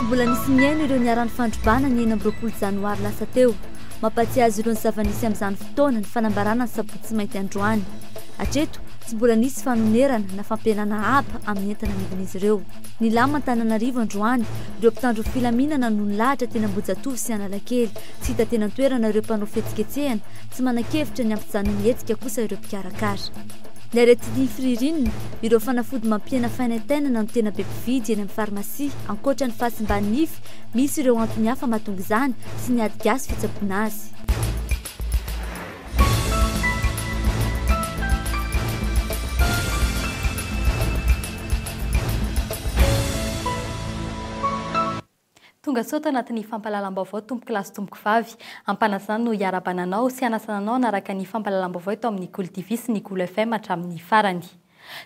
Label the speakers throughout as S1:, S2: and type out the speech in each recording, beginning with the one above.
S1: Tsy mbola nisy nihaino ireo niharan'ny fandrobana ny enina amby roapolo janoary lasa teo. Mampahatsiahy azy ireo ny zava-nisy amin'izany fotoana ny fanambarana ny sabotsy mainty androany. Hatreto, tsy mbola nisy fanonerana na fampihenana haba amin'ny entana nidin'izy ireo. Nilama Antananarivo androany ireo mpitandro ny filaminana no nilahatra teny Ambohijatovo sy Analakely. Tsy hita teny an-toerana ireo mpanao fihetsiketsehana, tsy manan-kevitra ny hampijanona ny hetsika kosa ireo mpikarakara. Ny aretin'ny firirinina, ireo fanafody mampihena fanaintainana no tena be mpividy eny amin'ny farmasia, ankoatra ny fahasimban'ny nify, misy ireo antony hafa mahatonga izany sy ny ady gasy fitsaboana azy.
S2: Tongasoa ato anatin'ny fampahalalam-baovao tompokolahy sy tompokovavy. Ampanasana no hiarabana anao sy hanasana anao hanaraka ny fampahalalam-baovao eto amin'ny Kolo TV sy ny Kolo FM hatramin'ny farany.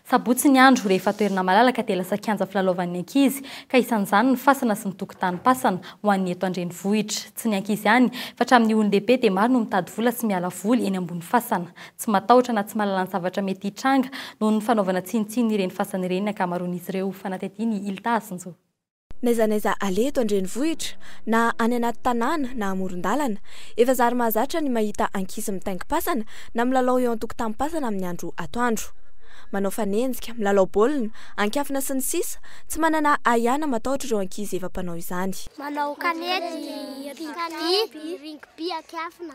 S2: Sabotsy ny andro, rehefa toerana malalaka dia lasa kianja filalaovan'ny ankizy, ka isan'izany ny fasana sy ny tokontanim-pasana, ho an'ny eto an-drenivohitra. Tsy ny ankizy ihany, fa hatramin'ny olon-dehibe dia maro no mitady vola sy miala voly eny ambony fasana. Tsy matahotra na tsy mahalala ny zavatra mety hitranga noho ny fanaovana tsinontsinona ireny fasana ireny ny ankamaroan'izy ireo, fanadihadian'i Hilda Asinjo. N'aiza n'aiza
S3: aleha eto an-drenivohitra, na any anaty tanàna na amoron-dalana, efa zary mahazatra ny mahita ankizy mitaingim-pasana na milalao eo an-tokotanim-pasana amin'ny andro atoandro. Manao fanenjika, milalao baolina, an-kiafina sy ny sisa Tsy manana ahiana matahotra ireo ankizy efa mpanao izany. Manao kanety,
S4: rugby, rugby an-kiafina.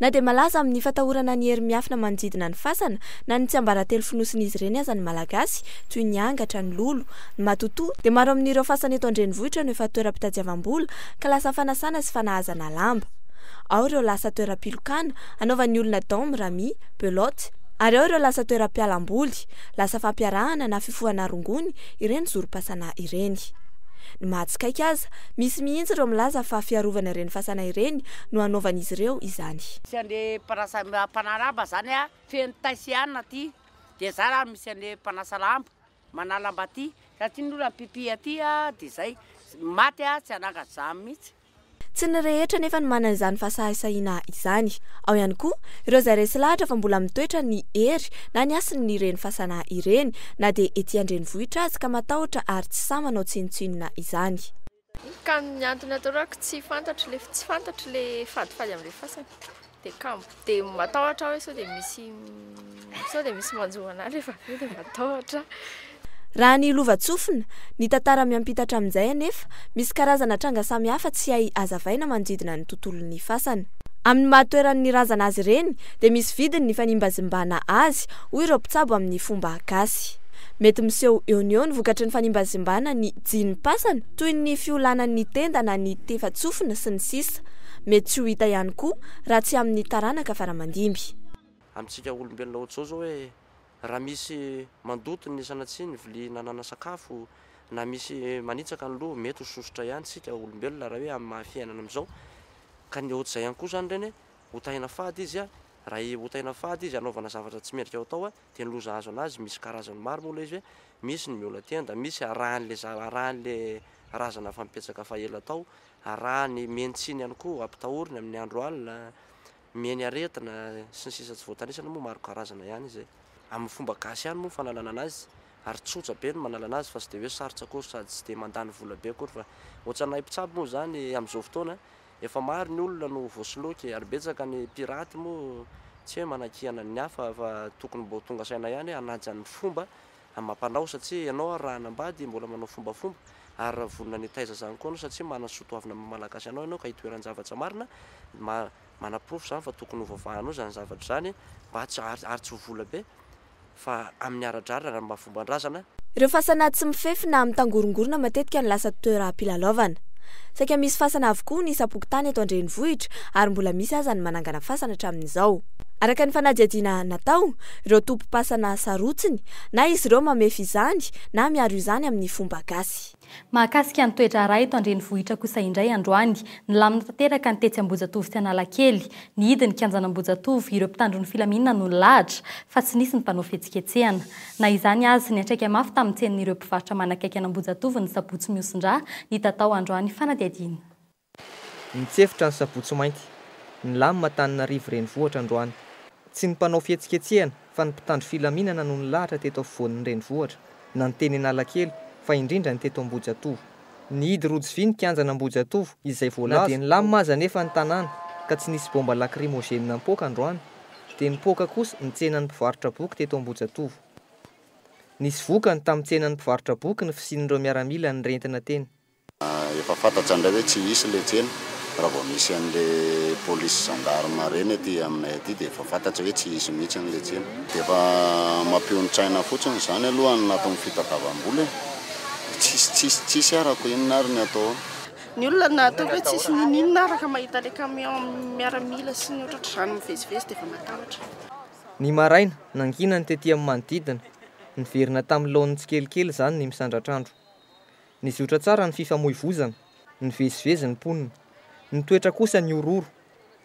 S5: Na dia
S3: malaza amin'ny fatahorana ny hery miafina manodidina ny fasana na ny tsiambaratelo fonosin'izy ireny aza ny Malagasy, toy ny angatra, ny lolo, ny matotoa, dia maro amin'ireo fasana eto an-drenivohitra no efa toeram-pitadiavam-bola ka lasa fanasana sy fanahazana lamba. Ao ireo lasa toeram-pilokana, anaovan'ny olona daomy, rami, beloty, ary ao ireo lasa toeram-pialam-boly, lasa fampiarahana na fifohana rongony, ireny zorom-pasana ireny. Ny mahatsikaiky aza, misy mihitsy ireo milaza fa fiarovana ireny fasana ireny, no hanaovan'izy ireo izany. Tsy ande mpanasa
S6: mpanaraba zany a feno tay sy anona aty de za ra misy ande mpanasa lamba manalamba aty ra ty ny ola mpipi aty a de zay maty a tsy ananga za mitsy. Tsy ny rehetra
S3: anefa no manana izany fahasahisahiana izany. Ao ihany koa ireo izay resy lahatra fa mbola mitoetra ny hery na ny hasin' ireny fasana ireny na dia ety an-drenivohitra azy ka matahotra ary tsy sahy manao tsinontsinona izany. Ka ny
S7: antony atoroako tsy fantatro le tsy fantatro le fadifady amle fasana de kambo de matahotra aho hoe sao de misy sao de misy manjo anah rehefa avy eo de matahotra. Raha
S3: ny lovantsofina, ny tantara miampitatra amin'izay anefa, misy karazana tranga samihafa tsy hay hazavaina manodidina ny tontolon'ny fasana. Amin'ny maha toeran'ny razana azy ireny dia misy vidiny ny fanimbazimbana azy hoy ireo mpitsabo amin'ny fomba gasy. Mety miseho eo no eo ny vokatry ny fanimbazimbana ny. Jini-pasana, toy ny fiolanan'ny tenda na ny tefa-tsofina, sy ny sisa Mety tsy ho hita ihany koa raha tsy amin'ny taranaka faramandimby. Amintsika
S8: olombelona ohatr'izao izao hoe raha misy mandoto ny sanatsia ny vilia nanana sakafo na misy manitsaka ny loha mety ho sosotra ihany isika olombelona raha hoe amin'ny maha fiainana amin'izao ka ny ohatr'izay ihany koa izany ireny hoe hotahina fady izy raha hotahina fady izy hanaovana zavatra tsy mendrika ho atao dia ny loza azo an'azy misy karazany maro moa ilay izy hoe misy ny miona tenda, misy arahan'ilay za- arahan'ilay razana efa mipetraka fa ela tao, arahan'ny mieny tsiny ihany koa, ampitahoriny amin'ny andro alina, mieny aretina, sy ny sisa tsy voatanisana moa maro karazana ihany izay. Amin'ny fomba gasy ihany moa ny fanalana an'azy ary tsotra be ny manala an'azy fa tsy dia hoe sarotra akory sady tsy dia mandany vola be akory fa ohatran'ny hay mpitsabo moa izany amin'izao fotoana Efa maro ny olona no voasoloky e, ary betsaka ny piraty moa tsy hoe manakiana ny hafa fa tokony mbô tonga saina ihany hoe hanaja ny fomba amam-panao satsia ianao ary raha hanambady mbola manao fombafomba ary raha vonona ny hitaiza zany koa ianao satsia manana ny soa toavina maha malagasy anao ianao ka itoeran-javatra marina manaporofo zany fa tokony hovavahanao zany zavatra zany mba tsy ary tsy ho vola be fa amin'ny ara-drariny ary amin'ny fomban-drazana. Ireo fasana tsy
S3: mifefy na mitangorongorona matetika no lasa toeram-pilalaovana. Saika misy fasana avokoa ny isam-pokontany eto an-drenivohitra ary mbola misy aza ny manangana fasana hatramin'izao. Araka ny fanadihadiana natao, ireo tompom-pasana sarotsiny na izy ireo mamefy izany na miaro izany amin'ny fomba gasy.
S2: Mahakasika ny toe-draharaha eto an-drenivohitra kosa indray androany, nilamina tanteraka ny tetsy Ambohijatovo sy Analakely. Nihidy ny kianjan'Ambohijatovo ireo mpitandro ny filaminana no nilahatra fa tsy nisy ny mpanao fihetsiketsehana. Na izany azy, niantraika mafy tamin'ny tsenan'ireo mpivarotra manakaiky an'Ambohijatovo ny sabotsy mihosin-dra nitatao androany fanadihadiana.
S9: Nitsefotra ny sabotsy mainty. Nilamina Antananarivo renivohitra androany. Tsy ny mpanao fihetsiketsehana fa ny mpitandro filaminana no nilahatra teto afovoan'ny renivohitra, na ny teny Analakely fa indrindra ny teto Ambohijatovo. Nihidy rojo vy ny kianjan'Ambohijatovo izay voalaza. Na dia nilamina aza anefa ny tanàna ka tsy nisy baomba lakrimôzeny nampoaka androany dia nipoaka kosa ny tsenan'ny mpivarotra boky teto Ambohijatovo. Nisy vokany tamin'ny tsenan'ny mpivarotra boky ny fisian'ireo miaramila nirentina teny. Efa
S10: fantatra ndray hoe tsy hisy ilay tsena, raha vao misy an'ilay polisy gendarme ireny aty aminay aty dia efa fantatra hoe tsy hisy mihitsy an'ilay tsena. Dia efa mampionon-tsaina fotsiny izany aloha ny nataon'ny fitadiavam-bola e! Tsisy tsisy tsisy arako inona ary ny atao ao? Ny olona
S11: nataoko hoe tsisy n'inon'inona araka mahita ilay camion miaramila sy ny ohatratr'izany mivezivezy dia efa matahotra. Ny
S9: maraina, nanginany tety amin'ny manodidina, niverina tamin'ny laoniny tsikelikely izany ny misandratr'andro. Nizotra tsara ny fifamoivozana, nivezivezy ny mponina. Ny toetra kosa nihorohoro.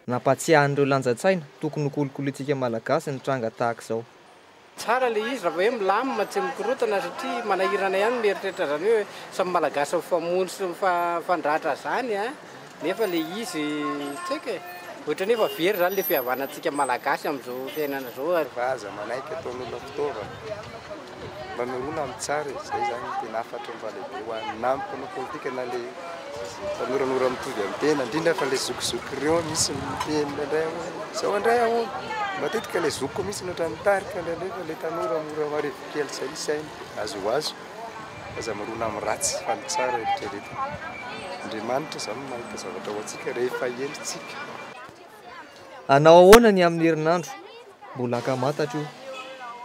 S9: Nampahatsiahy an'ireo lanjan-tsaina tokony ho kolokolointsika Malagasy ny tranga tahaka izao. Tsara ilay
S12: izy raha vao hoe milamina, tsy mikorontana satria manahirana ihany ny mieritreritra izany hoe samy Malagasy mifamono sy mifandratra izany an! Nefa le izy tsy haiko e. Ohatrany efa very zany le fihavanantsika malagasy amin'izao fiainana zao ary. Fa aza manaiky ataon'olona
S13: fitaovana mba mirona amin'ny tsara e, izay zany no tena hafatry ny fahalehibe ho an'ny na ny mpanao politika na le mpanoranora mitovy amin'ny tena, indrindra fa le zokizoky reo misy miteny indraindray hoe zao indray ahoana, matetika le zokiko mihintsy no ohatran'ny mitarika indraindray fa le tanora mora marivo kely zay ny sainy de azy ho azy. Aza mirona amin'ny ratsy fa ny tsara eritreretina. Andriamanitra izany no mahita zavatra ho antsika rehefa henontsika.
S9: Hanao ahoana ny amin'ny herinandro? Mbola ankamantatra io.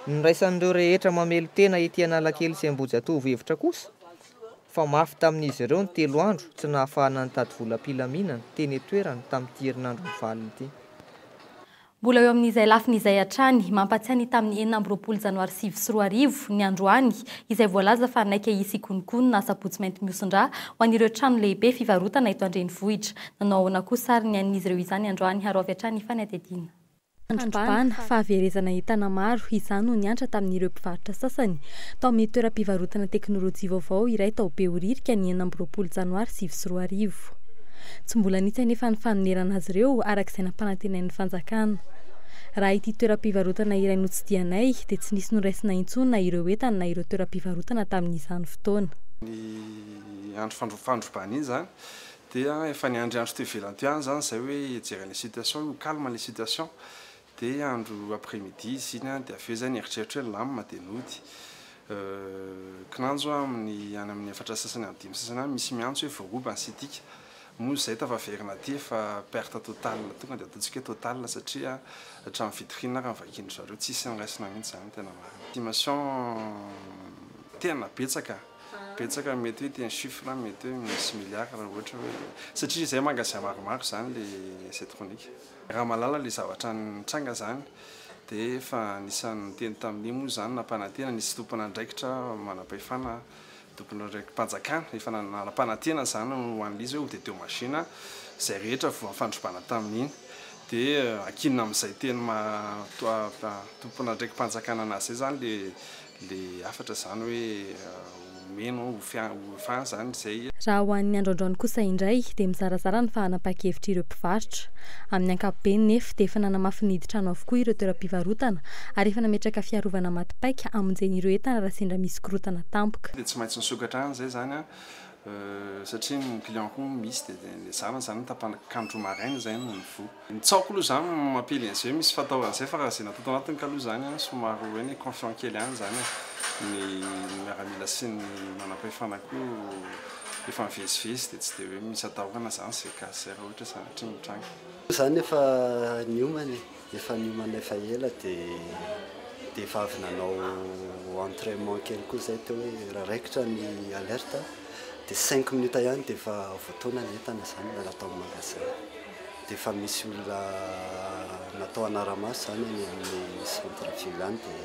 S9: Niraisan'ireo rehetra mamelon-tena ety Analakely sy Ambohijatovo hevitra kosa fa mafy tamin'izy ireo ny telo andro tsy nahafahana nitady volam-pilaminana teny an-toerana tamin'ity herinandro mivalona ity.
S2: Mbola eo amin'izay lafiny izay hatrany, mampatsiahy ny tamin'ny enina amby roapolo janoary sivy sy roa arivo, ny androany, izay voalaza fa naika hisy hikonokono na sabotsy mainty mihosin-drà ho an'ireo trano lehibe fivarotana eto an-drenivohitra. Nanao ahoana kosa ary ny an'izy ireo izany androany ary ho avy hatrany ny fanadihadiana? Fandrobana, fahaverezana entana maro, izany no niantra tamin'ireo mpivarotra sasany, tao amin'ny toeram-pivarotana teknolojia vaovao iray tao Behoririka, ny enina amby roapolo janoary sivy sy roa arivo. Tsy mbola nisy anefa ny fanonerana azy ireo araka izay nampanantenain'ny fanjakana. Raha ity toeram-pivarotana iray notsidihanay dia tsy nisy noraisina intsony na ireo entana na ireo toeram-pivarotana tamin'izany fotoana.
S14: Ny andro fandrobana iny izany dia efa niandry andro teo ivelany teo ihany izany izay hoe hijery an'ilay situation hoe ho calme ilay situation Dia andro après midi izy iny an, dia avy eo izay nieritreritra hoe nilamina dia nody. Kinanjo aho amin'ny any amin'ny efatra sasany amin'ny dimy sasany any, misy miantso hoe voaroba ny sitika. Moa izahay tafaverina aty efa perte totale, tonga dia ataontsika hoe totale satria hatramin'ny vitrine ary ny vakin-dry zareo tsisy niraisina mihitsy izany tena marina. Estimation tena betsaka, betsaka mety hoe ity ny chiffre mety hoe misy milliard raha ohatra hoe, satria izahay magasin maromaro izany ilay Zetchronic. Raha mahalala ilay zavatra nitranga izany dia efa anisan'ny niteny tamin'io moa izany nampanantena nisy tompon'andraikitra manam-pahefana tompon'andraiki-panjakana efa nanampanantena izany ho an'ilay izy hoe hotete machine izay rehetra voafandrobana tamin'iny dia ankinina amin'izay teny maha tompon'andraiki-panjakana anazy izay izany ilay Le hafatra zany hoe omeno ho fin zany zay. Raha ho an'ny androandroany
S2: kosa indray dia mizarazara ny fahanam-pakevitr'ireo mpivarotra. Amin'ny ankapobeny nef dia efa nanamafy ny hidin-trano avokoa ireo toeram-pivarotana ary efa nametraka fiarovana maty paika hamonjena ireo entana raha sendra misy korotana tampoka. Dia tsy maintsy nisokatra
S14: any zay zany satria ny client ko misy de nezahana zany ny tapany kanjo maraina zay no nivoha. Ny tsaoko aloha zany mampely an'izay misy fataorana zay fa raha zay natao tao anatiny kaloha zany an somary hoe ny confiant kely any zany an ny miaramila sy ny manampahefana ko efa mivezivezy de tsy de hoe misy atahorana zany zay cas zay raha ohatra zany hatria mitranga. Zany efa
S15: niomana e! Efa niomana efa ela dia dia efa avy nanao entrainement kely koa izay teo hoe raha raikitra ny alerte dia cinq minutes ihany dia efa voatoana ny entana izany raha tao amin'ny magasin dia efa misy olona natao hanara-maso izany any amin'ny centre ville any dia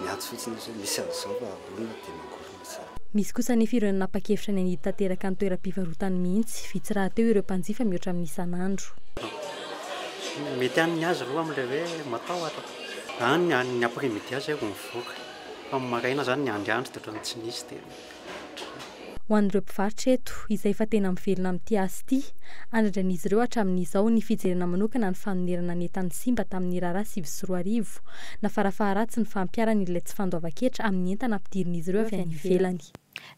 S15: miantso fotsiny izy hoe misy an'izao raha olona dia mangorona. Misy
S2: kosa anefa ireo nanapa-kevitra ny hanidy tanteraka ny toeram-pivarotany mihitsy. Vitsy rahateo ireo mpanjifa mihoatra amin'ny isan'andro.
S15: Mety ihany ny azy roa amin'ilay hoe matahotra. Any ny any après midi aza zay vao mivoaka. Fa amin'ny maraina zany ny androandro dia ohatran'ny tsy nisy dia ohatran'izay.
S2: Ho an'ireo mpivarotra eto, izay efa tena mivelona amin'ity asa ity, andradrain'izy ireo hatramin'izao ny fijerena manokana ny fanonerana ny entan'ny simba tamin'ny raharaha sivy sy roa arivo, na farafaharatsiny fampiharana ilay tsy fandoavan-ketra amin'ny entana ampidirin'izy ireo avy any ivelany.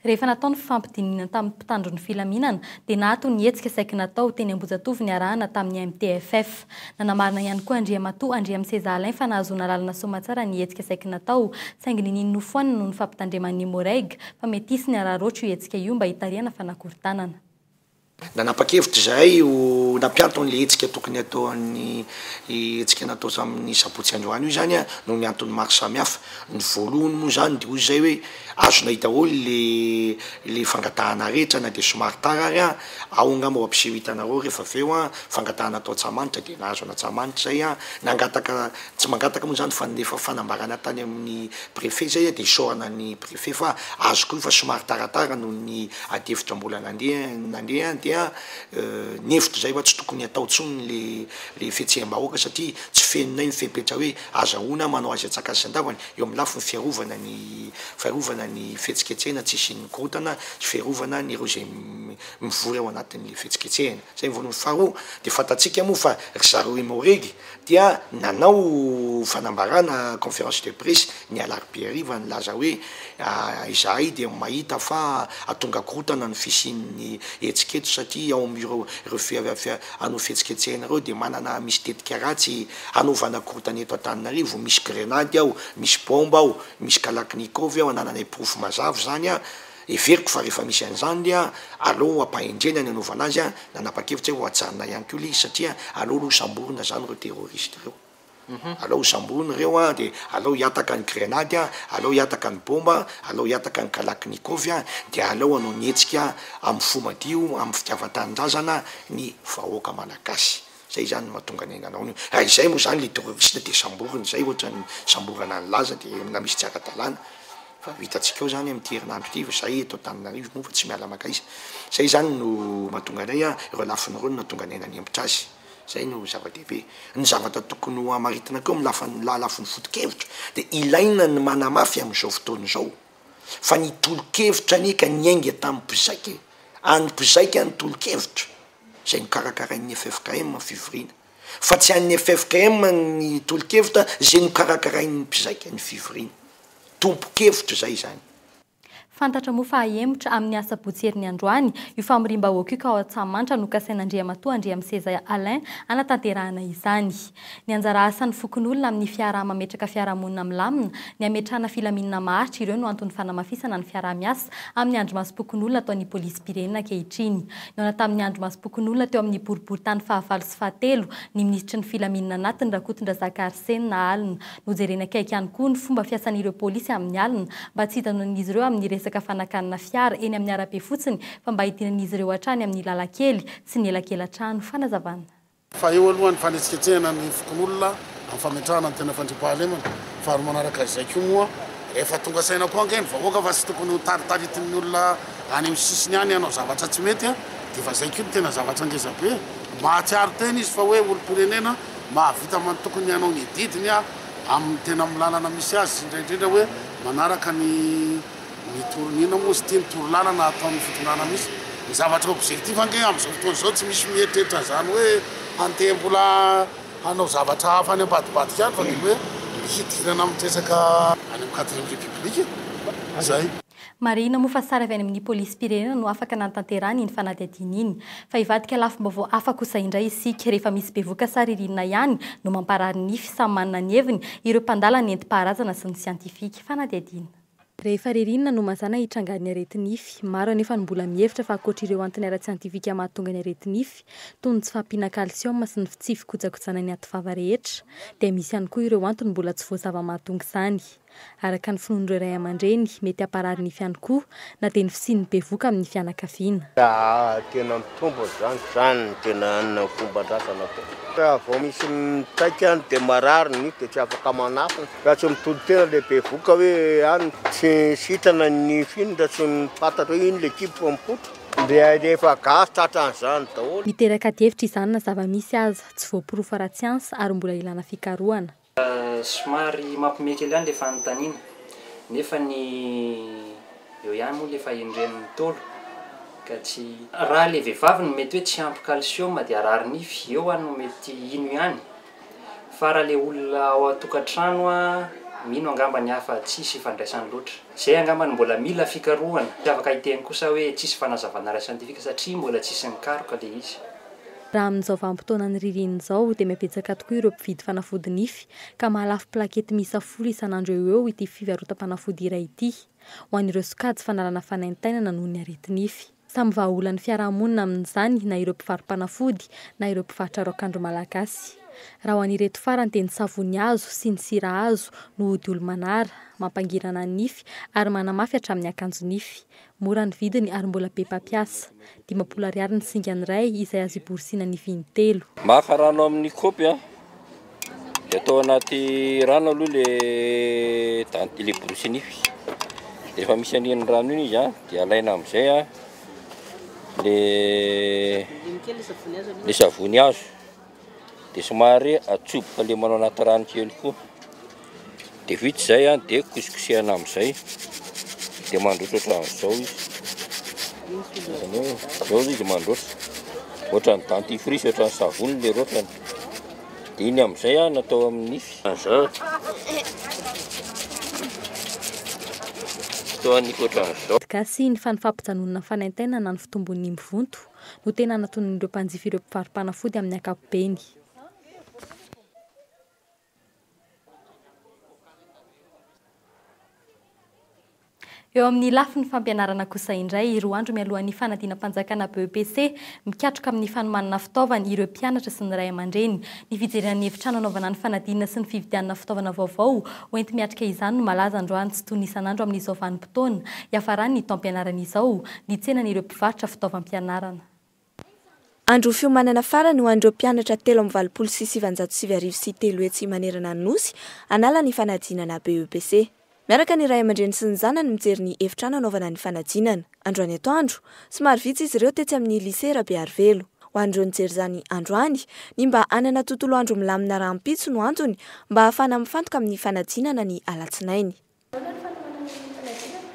S2: Rehefa natao ny fifampidinihana tamin'ny mpitandro ny filaminana dia naato ny hetsika saiky natao teny Ambohijatovo niarahana tamin'ny MTFF. Nanamarina ihany koa Andriamatoa Andriamiseza Alain fa nahazoana alalana soamatsara ny hetsika saiky natao saingy niniany nofoanana noho ny fampitandreman'ny Moreg fa mety hisy ny araraotra io hetsika io mba hitarihana fanakorontanana
S16: Nanapa-kevitra izahay ho nampianto an'ilay hetsika tokony hatao an'i Io hetsika natao tamin'ny sabotsy androany io izany noho ny antony maro samihafa. Ny voalohany moa izany dia hoy izahay hoe azonay daholo ilay ilay fangatahana rehetra na dia somary tara ary an! ao angamba ho ampiseho hitanareo rehefa avy eo an! fangatahana atao Antsahamanitra dia nahazo an'Antsahamanitra izay an! nangataka tsy mangataka moa izany fa nandefa fanambarana tany amin'ny préfet izay dia isaorana ny F'efa azoko io fa somary taratara noho ny adihevitra mbola nandeha nandeha dia nihevitra izay fa tsy tokony hatao intsony ilay ilay fihetseham-bahoaka satria tsy fenonay ny fepetra hoe azahoana manao azy an-tsakany sy an-davany eo amin'ny lafiny fiarovana ny fiarovana ny fihetsiketsehana tsy hisian'ny korontana sy fiarovana an'ireo izay mivory ao anatin'ilay fihetsiketsehana. Izay ny voalohany. Faharoa dia fantatsika moa fa ry zareo i Maoregy dia nanao fanambarana, conférence de presse, ny alarobia hariva nilaza hoe izahay dia mahita fa hahatonga korontana ny fisian'ny hetsika eto satria ao amin'ireo anao fihetsiketsehana ireo dia manana misy tetika ratsy hanaovana korontana eto Antananarivo, misy grenady ao, misy baomba ao, misy kalaknikov ao, anananay porofo mazava izany. Heveriko fa rehefa misy an'izany dia aleo hampahendrena ny hanaovana azy an, nanapa-kevitra aho ho hajanona ihany koa ilay izy satria aleo aloha hosamborina izany ireo terroristes ireo. Aleo hosamborina ireo an, dia aleo hihataka ny grenady an, aleo hihataka ny bomba an, aleo hihataka ny kalaknikov an, dia aleo hanao ny hetsika amin'ny fo madio, amin'ny fitiavan-tanindrazana ny vahoaka malagasy. Zay zany no mahatonga anay nanao an'io. Raha izay moa zany le terroriste de samboriny zay ohatrany samborana ny laza de na misy tsy ara-dalàna fa ho hitantsika eo zany amin'ity herinandro ity fa zay eto Antananarivo moa fa tsy miala makaiza. Zay zany no mahatonga anay a, reo lafiny reo no nahatonga anay nanempotra azy. Zay no zava-dehibe. Ny zavatra tokony ho amaritina koa amin'ny lafany la- lafiny foto-kevitra de ilaina ny manamafy am'zao fotoana izao fa ny tolo-kevitra anie ka niainga tam'mpizaika e, an'ny mpizaika ny tolo-kevitra. izay nokarakarain'ny ffkm ny fivoriana, fa tsy an'ny ffkm ny tolokevitra izay nokarakarain'ny mpizaika ny fivoriana. Tompon-kevitra izay izany. Fantatra
S2: moa fa hahemotra amin'ny asabotsy herin'ny androany io famoriam-bahoaka io ka ao Antsahamanitra no kasain'Andriamatoa Andriamiseza Alain hanatanterahana izany. Ny anjara asan'ny fokonolona amin'ny fiaraha-mametraka fiarahamonina milamina, ny hametrahana filaminana maharitra ireo no anton'ny fanamafisana ny fiaraha-miasa amin'ny andrimasom-pokonolona ataon'ny polisim-pirenena ankehitriny. Nihaona tamin'ny andrimasom-pokonolona teo amin'ny boriboritany fahavalo sy fahatelo ny minisitry ny filaminana anatiny Rakotondrazaka Arsena alina. Nojereny akaiky ihany koa ny fomba fiasan'ireo polisy amin'ny alina mba tsy hijanonan'izy ireo amin'ny resaka fanakanana fiara eny amin'ny arabe fotsiny fa mba hidinan'izy ireo hatrany amin'ny lalankely sy ny elakela-trano. Fanazavana. Fa eo aloha
S17: ny fanetsiketsehana ny fokonolona amin'ny fametrahana ny tena fandriampahalemana, fa ary manaraka izay koa moa efa tonga saina koa ange ny vahoaka fa tsy tokony ho taritaritin'ny olona any amin'ny sisiny any hanao zavatra tsy mety an! Dia efa izay koa no tena zavatra ngeza be! Mahatsiaro tena izy fa hoe olom-pirenena mahavita man tokony hanao ny adidiny amin'ny tena amin'ny lalana misy azy sy indray indrindra hoe manaraka ny Ny toro inona moa izy ity? Ny toro lalana ataon'ny fitondrana misy ny zavatra objectif ange amin'izao fotoana izao tsy misy mieritreritra an'izany hoe handeha mbola hanao zavatra hafa any ambadibadika any fa dia hoe mby hidirana amin'ny resaka any amin'ny quatrième république e! Izay. Marihina moa
S2: fa sary avy any amin'ny polisim-pirenena no afaka nanatanterahana iny fanadihadiana iny. Fa hivadika lafim-baovao hafa kosa indray isika. Rehefa misy bevoka sa ririnina ihany no mamparary nify, samy manana ny heviny, ireo mpandala nentim-paharazana sy ny siantifika. Fanadihadiana. Rehefa ririnina no mazàna hitrangan'ny areti-nify. Maro anefa no mbola mihevitra fa ankoatra ireo antony ara-tsiantifika mahatonga ny areti-nify, toy ny tsy fahampiana kalsioma sy ny tsy fikojakojana ny ativava rehetra, dia misy ihany koa ireo antony mbola tsy voazava mahatonga izany. Araka ny finoan'ireo ray aman-dreny, mety hamparary nify ihany koa na dia ny fisian'ny bevohoka amin'ny fianakaviana. Tena
S18: mitombo izany, izany no tena fomban-drazana koa. Raha vao misy mitaika dia marary ny nify dia tsy afaka manafy ny. Raha tsy mitonon-tena ilay bevoka hoe any, tsy sitrana ny film raha tsy fantatra hoe ino ilay ekipa vao mipoitra. Dia ilay efa gasy tratran'izany daholo. Miteraka adihevitra izany
S2: na zava-misy aza, tsy voaporofo ara-tsiansa ary mbola ilana fikarohana. Somary
S9: mampiomehy kely ihany ilay fanontaniana nefa ny eo ihany moa ilay fahendren'ny Ntaolo ka tsy. Raha ilay vehivavy no mety hoe tsy ampy calcium dia harary nify, eo aho no mety hino ihany. Fa raha le olona ao an-tokantrano a, mino angamba ny hafa tsisy ifandraisany loatra. Zay angamba no mbola mila fikarohana. Tsy afaka hiteny kosa aho hoe tsisy fanazavana ara-siantifika satria mbola tsisy nikaroka le izy. Raha amin'izao
S2: vanim-potoanan'ny ririnina izao dia mihabetsaka tokoa ireo mpividy fanafody nify ka mahalafo plakety miisa folo isan'andro eo ho eo ity fivarotam-panafody iray ity ho an'ireo sokajy fanalana fanaintainana noho ny areti-nify. Samy vahaolan'ny fiarahamonina amin'izany na ireo mpivaro-panafody na ireo mpivarotra raokandro malagasy. Raha ho an'ireto farany dia ny savony hazo sy ny sira hazo no ody olo-manara, mampangirana ny nify ary manamafy hatramin'ny akanjo nify. Mora ny vidiny ary mbola be mpampiasa. Dimampolo ariary ny singany iray izay azo iborosiana nify intelo. Maka rano amin'ny
S19: kaopy. Dia atao anaty rano aloha le dent- le borosy nify. Dia rehefa misy an'iny rano iny izy a, dia alaina amin'izay a le le savony hazo. Dia somary atsoboka lemana ao anaty rano kely koa. Dia vita izay an, dia kosikosehana amin'izay, dia mandroso ohatran'izao izy. Izany hoe, izao izy mandroso, ohatran'ny dentifrice, ohatran'ny savony ilay rotrany. Dia iny amin'izay an, natao amin'ny nify. Izao, toa nify ohatran'izao. Gasy ny fanifampijanonana
S2: fanaintainana ny fitombon'ny mvonto no tena anatonin'ireo mpanjifa ireo mpivaro-panafody amin'ny ankapobeny. Eo amin'ny lafiny fampianarana kosa indray, roa andro mialohan'ny fanadinam-panjakana BEPC, mikatroka amin'ny fanomanana fitaovana ireo mpianatra sy ny ray aman-dreny. Ny fijerena ny efitrano hanaovana ny fanadinana sy ny fividianana fitaovana vaovao hoenti-miatrika izany no malaza androany tsy toy ny isan'andro amin'izao vanim-potoana hiafaran'ny taom-pianarana izao, ny tsenan'ireo mpivarotra fitaovam-pianarana.
S3: Andro fiomanana farany ho an'ireo mpianatra telo amby valopolo sy sivanjato sivy arivo sy telo etsy manerana ny Nosy, hanala ny fanadinana BEPC. Miaraka ny ray aman-dreny sy ny zanany mijery ny efitrano hanaovana ny fanadinana, androany atoandro. Somary vitsy izy ireo tetsy amin'ny Lycée Rabearivelo. Ho an'ireo nijery izany androany, ny mba hanana tontolo andro milamina rahampitso no antony mba hahafahana mifantoka amin'ny fanadinana ny alatsinainy.
S7: Ahoana ny fanohanana ny fanadinana?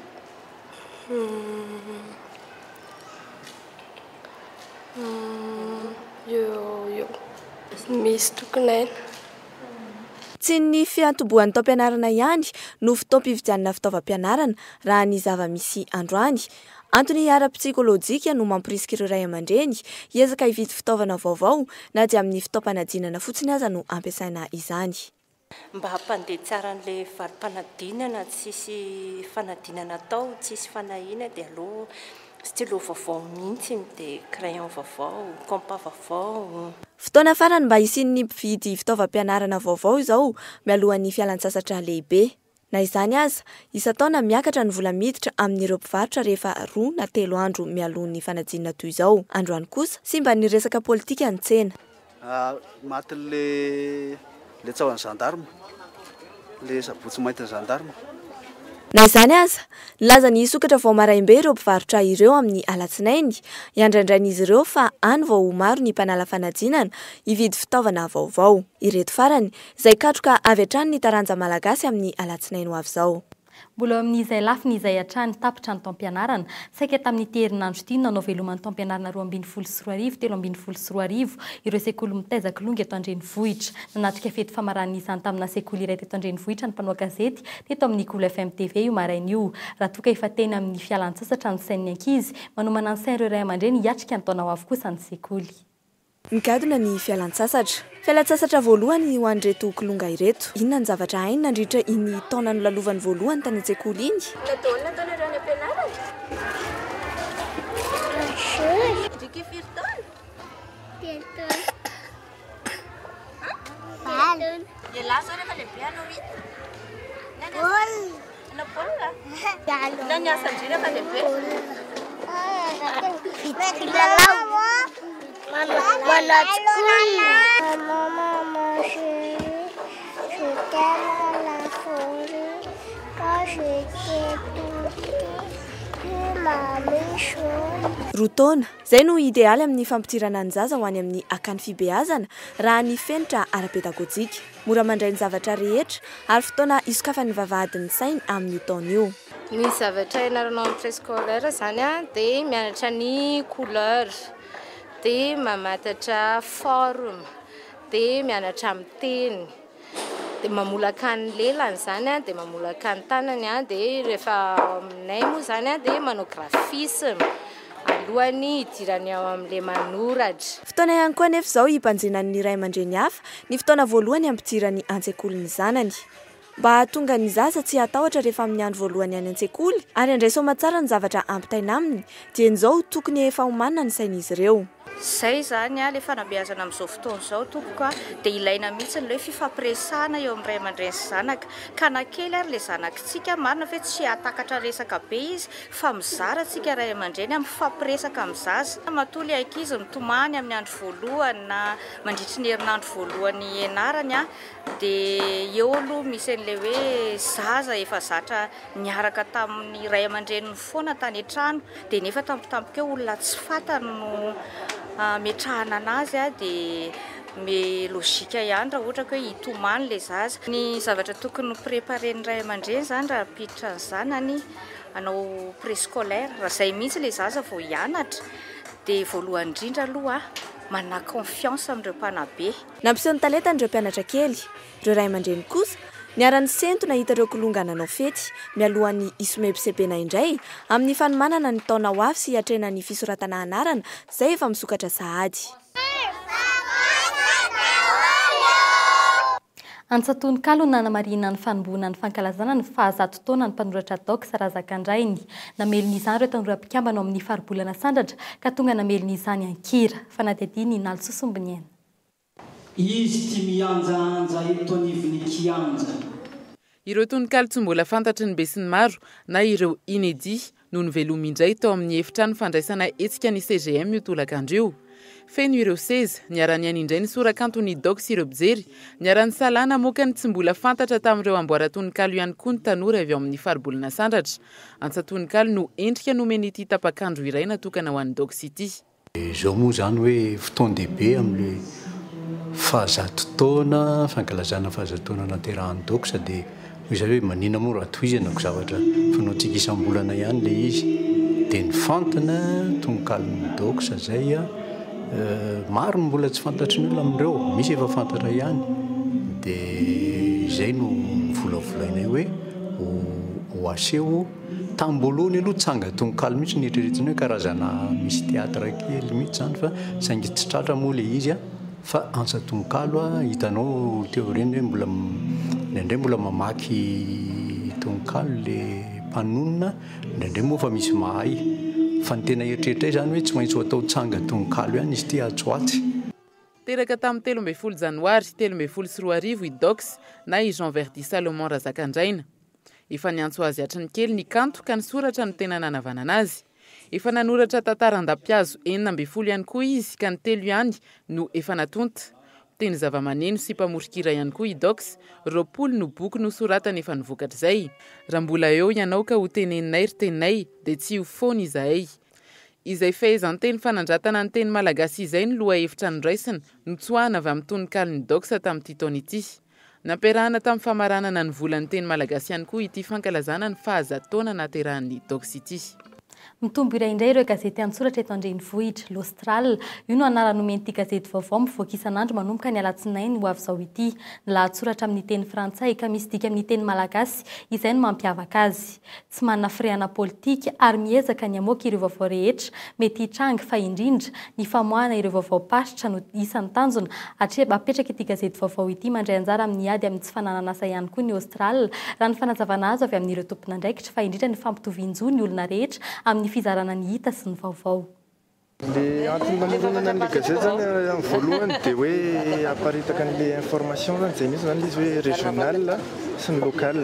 S7: Misy tokony haina.
S3: Tsy ny fiantombohan'ny taom-pianarana ihany no fotoam-pividianana fitaovam-pianarana, raha ny zava-misy androany. Antony ara-psikolojika no mamporisika ireo ray aman-dreny hiezaka hividy fitaovana vaovao, na dia amin'ny fotoam-panadinana fotsiny aza no ampiasaina izany. Mba
S20: hampandeha tsara an'ilay valim-panadinana tsisy fanadinana atao, tsisy fanahiana dia aleo stylo vaovao mihitsy no dia crayon vaovao, compas vaovao. Fotoana farany
S3: mba hisian'ny mpividy fitaovam-pianarana vaovao izao mialohan'ny fialan-tsasatra lehibe. Na izany aza, isan-taona miakatra ny vola miditra amin'ireo mpivarotra rehefa roa na telo andro mialoha ny fanadinana toy izao. Androany kosa, simban'ny resaka politika ny tsena. Matin'le
S21: le tsahon'ny gendarme, le sabotsy maintin'ny gendarme. Na
S3: izany aza, nilaza ny hisokatra vao maraim-be ireo mpivarotra ireo amin'ny alatsinainy. Iandraindrain'izy ireo fa any vao ho maro ny mpanala fanadinana hividy fitaovana vaovao. Ireto farany. Izay katroka avy hatrany ny taranja malagasy amin'ny alatsinainy ho avy izao. Mbola eo amin'izay
S2: lafiny izay hatrany tapitra ny taom-pianarana. Saika tamin'ity herinandro ity no nanao veloman'ny taom-pianarana roa ambin'ny folo sy roa arivo telo ambin'ny folo sy roa arivo ireo sekoly mitaiza kilonga eto an-drenivohitra. Nanatrika fety famaranan'izany tamina sekoly iray teto an-drenivohitra ny mpanao gazety teto amin'ny Cool FM TV io maraina io. Raha toa ka efa teny amin'ny fialan-tsasatra ny sain'ny ankizy, manomana ny sain'ireo ray aman-dreny hiatrika ny taona ho avy kosa ny sekoly. Nigadona
S3: ny fialan-tsasatra. Fialan-tsasatra voalohany ho an'ireto kilonga ireto. Inona ny zavatra hainy nandritra iny taona nolalovany voalohany tany an-tsekoly iny? Mbola daholo ny ataonareo any am-pianarana? Midika firy taona?
S7: Telo taona.
S4: Valo. Ialahy izao rehefa lehibe hanao inona? Ny any an-dRajoelina.
S3: Roa taona, izay no idealy amin'ny fampidirana ny zaza ho any amin'ny akany fibeazana raha ny fenitra ara-pedagojika. Mora mandray ny zavatra rehetra ary fotoana hisokafan'ny vavahadin'ny sainy amin'io taona io. Ny zavatra
S7: ianaranao amin'ny préscolaire izany dia mianatra ny couleur, dia mamatatra forme, dia mianatra miteny, dia mamolaka ny lelany izany, dia mamolaka ny tanany, dia rehefa ao aminay moa izany dia manao graphisme alohan'ny hidirany ao amin'ilay manoratra. Fotoana ihany koa anefa
S3: izao hibanjinan'ny ray aman-dreny hafa Ny fotoana voalohany hampidirany an-tsekoly ny zanany. Mba hahatonga ny zaza tsy hatahotra rehefa amin'ny andro voalohany any an-tsekoly ary handray soa aman-tsara ny zavatra ampitaina aminy dia injao tokony efa homanina ny sain'izy ireo. Izay izany
S1: ilay fanabeazana amin'izao fotoana izao tompoko a! Dia ilaina mihitsy ny hoe fifampiresahana eo amin'ny ray aman-dreny sy zanaka ka na kely ary ilay zanakintsika marina ve tsy hahatakatra resaka be izy fa mizara tsika ray aman-dreny a! mifampiresaka amin'ny zaza matoa ilay ankizy mitomany amin'ny andro voalohany na Mandritry ny herinandro voalohany hianarany dia eo aloha misy an'ilay hoe zaza efa zatra niaraka tamin'ny ray aman-dreniny foana tany an-trano dia nefa tampotampoka eo olona tsy fantany no hametrahana anazy dia me logika ihany raha ohatra hoe hitomany ilay zaza. Ny zavatra tokony ho préparer-ny ray aman-dreny izany raha hampiditra ny zanany hanao préscolaire raha izay mihitsy ilay zaza vao hianatra. Dia voalohany indrindra aloha manà confiance amin'ireo mpanabe. Nampiseho ny talentany
S3: ireo mpianatra kely. Ireo ray aman-dreny kosa, niara-nisento nahita ireo kilonga nanao fety, mialohan'ny hisomebisebena indray amin'ny fanomanana ny taona ho avy sy hiatrehana ny fisoratana anarana izay efa misokatra sahady.
S2: Antsan-tononkalo nanamarihina ny fanombohana ny fankalazana ny faha zato taonan'ny mpanoratra Dox Razakandrainy. Namelona izany ireo tanora mpikambana ao amin'ny Faribolana Sandratra ka tonga namelona izany an-kira. Fanadihadian'i Nalso Sombiniaina. Izy
S22: ty mihanjahanja eto anivon'ny kianja. Ireo
S23: tononkalo tsy mbola fantatry ny besinimaro na ireo inédits no nivelomy indray tao amin'ny efitrano fandraisana hetsika ny CGM io tolakandro io. Feno ireo seza, niara-nihaino indray ny sorakanto ny Doc sy ireo mpijery, niara-nisalahy namoaka ny tsy mbola fantatra tamin'ireo amboaran-tononkalo ihany koa ny tanora avy ao amin'ny Faribolana Sandratra. Antsan-tononkalo no endrika nomen'ity tapakandro iray natokana ho an'ny Docs ity. Dia izao moa izany
S24: hoe fotoan-dehibe amin'ilay fahazato taona, fankalazana fahazato taona naterahan'i Doxa dia hoy izahay hoe maninona moa raha tohizana ko zavatra fanaontsika isam-bolana ihany ilay izy. Dia ny fantina, tononkalon'i Doxa izay, maro ny mbola tsy fantatry ny olona amin'ireo, misy efa fantatra ihany. Dia izay no novolavolainay hoe ho aseho. Tamin'ny voalohany aloha tsanga tononkalo mihitsy no eritreretina hoe karazana misy théâtre kely mihitsy izany fa saingy tsy tratra moa ilay izy an! fa antsa tononkalo an! hitanao teo aoriany hoe mbola indraindray mbola mamaky tononkalo ilay mpanonona an! indraindray moa efa misy mahay fa ny tena eritreritray izany hoe tsy maintsy ho atao tsanga tononkalo ihany izy ity atsy ho atsy. Teraka
S23: tamin'ny telo ambin'ny folo janoary telo ambin'ny folo sy roa arivo i Dox na i Jean Verdy Salomon Razakandraina. Efa niantso azy hatry ny kely ny kanto ka ny soratra no tena nanavanana azy. Efa nanoratra tantara an-dampihazo enina ambin'ny folo ihany koa izy ka ny telo ihany no efa natonta. Mpiteny zavamaneno sy mpamoron-kira ihany koa i Dox, roapolo no boky nosoratany efa novokatr'izay. Raha mbola eo ianao ka hoteneninay ry teninay dia tsy ho foana izahay. Izay fehezanteny fanandratana ny teny malagasy izay no lohahevitra noraisina, notsoahana avy amin'ny tononkalon'i Dox tamin'ity taona ity. Nampiarahana tamin'ny famaranana ny volan'ny teny malagasy ihany koa ity fankalazana ny fahazato taona nahaterahan'ny Doc City. Mitombo iray
S2: indray ireo gazety an-tsoratra eto an-drenivohitra. L'Austral, io no anarana nomen'ity gazety vaovao mivoaka isan'andro manomboka ny alatsinainy ho avy izao ity. Ny lahatsoratra amin'ny teny frantsay ka misy dika amin'ny teny malagasy, izay no mampiavaka azy. tsy manana firehana politika ary miezaka ny hamoaka ireo vaovao rehetra mety hitranga fa indrindra ny famoahana ireo vaovaom-paritra no isan'ny tanjona hatreba apetraka ity gazety vaovao ity mandray anjara amin'ny ady amin'ny tsy fananan'asa ihany koa ny Aostral raha ny fanazavana azo avy amin'ireo tompon'andraikitra fa indrindra ny fampitovian-jo ny olona rehetra amin'ny fizarana ny hita sy ny vaovao. Ilay
S5: antony namoronana an'ilay gazety izany amin'ny voalohany dia hoe hamparitaka an'ilay information izany izay misy izany ilay izy hoe régional sy ny local.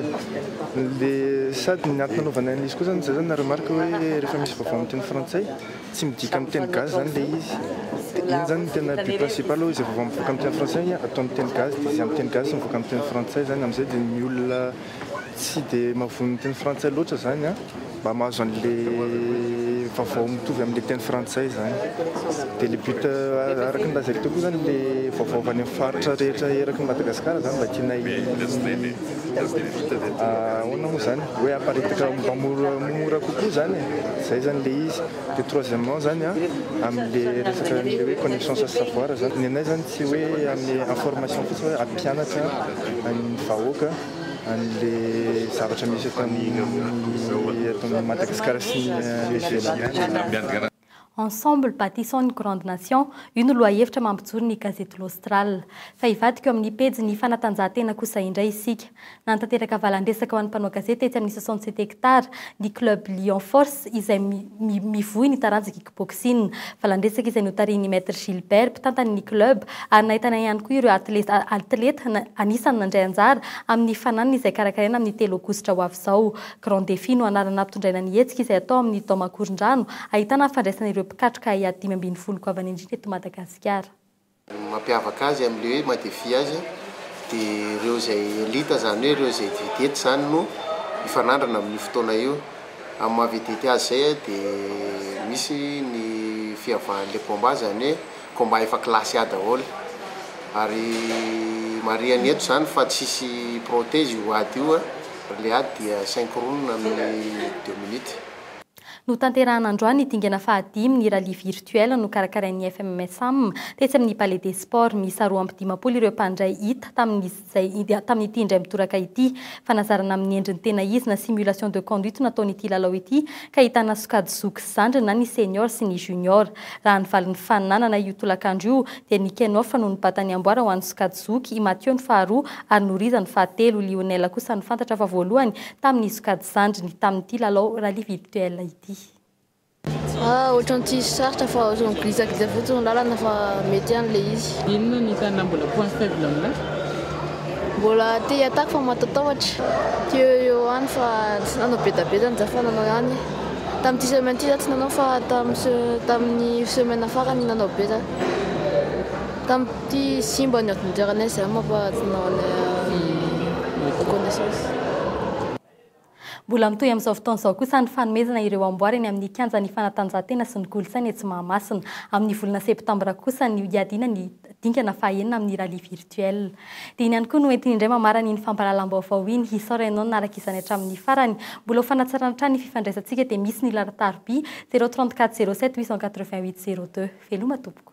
S5: Ilay sady ny antony nanaovana an'ilay izy koa izany dia izay izany na remarque hoe rehefa misy vaovao amin'ny teny frantsay tsy midika amin'ny teny gasy izany ilay izy. Dia iny izany no tena but principal hoe izay vaovao mivoaka amin'ny teny frantsay atao amin'ny teny gasy dia izay amin'ny teny gasy mivoaka amin'ny teny frantsay izany. Amin'izay dia ny olona. Tsy dia mahavoa ny teny frantsay loatra izany an! Mba mahazo an'ilay vaovao mitovy amin'ilay teny frantsay izany. Dia ilay but araka ny lazaiko teo koa izany ilay vaovao avy any amin'ny faritra rehetra eraky an'i Madagasikara izany mba tiana hi ahoana moa izany? hoe haparitaka mba mora mora kokoa izany e! Izay izany ilay izy. De troisièmement zany a, amle resaka anle hoe connaissance sy savoir zany, ny anay zany tsy hoe amle information fotsiny hoe ampianatra an'ny vahoaka anle zavatra misy eto amin'ny eto amin'ny Madagascar sy ny any ivelany. Ensemble
S2: bâtissons une grande nation, io no lohahevitra mampijoro ny gazety L'Austral. Fa hivadika eo amin'ny pejin'ny fanatanjahantena kosa indray isika. Nanatanteraka valan-dresaka ho an'ny mpanao gazety tetsy amin'ny soixante sept hectares ny Club Lion Force izay mivoy ny taranja kickboxing. Valan-dresaka izay notarihin'ny Maître Gilbert, mpitantana ny club ary nahitana ihany koa ireo atleta anisan'ny nandray anjara amin'ny fananana izay karakaraina amin'ny telo aogositra ho avy izao. Grand Défi no anarana nampitondraina ny hetsika izay hatao amin'ny Dome Ankorondrano ahitana ny fandraisana ireo mpikatroka ahiahy dimy ambin'ny folo goavana indrindra eto Madagasikara. Ny mampiavaka
S6: azy amin'ilay hoe madefy azy dia ireo izay elite, izany hoe ireo izay vedety izany no hifanandrana amin'io fotoana io. Amin'ny maha vedety azy izay dia misy ny fihavahan'ilay combat, izany hoe combat efa classe A daholo. Ary marihany eto izany fa tsy hisy protège io ady io, ilay ady dia synchroune amin'ny deux minutes. Notanterahina
S2: androany ny dingana fahadimy ny rallye virtuel nokarakarain'ny FMSAM tetsy amin'ny Palais des Sports. Miisa roa amby dimampolo ireo mpandray hita tamin'izay tamin'ity indray mitoraka ity. Fanazarana amin'ny endriny tena izy na simulation de conduite nataon'ity lalao ity ka ahitana sokajy zoky sy zandriny na ny senior sy ny junior. Raha ny valin'ny fananana io tolakandro io dia ny Kenoff no nibata ny amboara ho an'ny sokajy zoky, i Mathieu ny faharoa ary Noriza ny fahatelo. Lionel kosa no fantatra fa voalohany tamin'ny sokajy zandriny tamin'ity lalao rallye virtuel ity. Ah,
S8: ohatran'ny tsisy sarotra fa ohatran'ny migisagiza fotsiny ny lalana fa mety ihany ilay izy. Inona no hitanao mbola
S23: point faible aminao?
S8: Mbola te hi-attaque fa mahatatahotra. Teo eo ihany fa tsy nanao bedabeda ny Jafa nanao ihany. Tamin'ity semaine ity za tsy nanao fa tamin'ny semaine farany nanao be za. Tamin'ity simba ny ordinateranay izay aho manko ary tsy nanana reconnaissance.
S2: Mbola mitohy amin'izao fotoana izao kosa ny fanomezana ireo amboara eny amin'ny kianjan'ny fanatanjahantena sy ny kolontsaina etsy Mahamasina. Amin'ny volana septambra kosa no hiadiana ny dingana fahaenina amin'ny rallye virtuel. Dia iny ihany koa no entiny indray mamarana iny fampahalalam-baovao iny. Hisaora ianao nanaraka izany hatramin'ny farany. Mbola ho fanatsarana hatrany ny fifandraisantsika dia misy ny laharan-tarobia, zéro trente quatre zéro sept huit cent quatre vingt huit zéro deux. Veloma tompoko.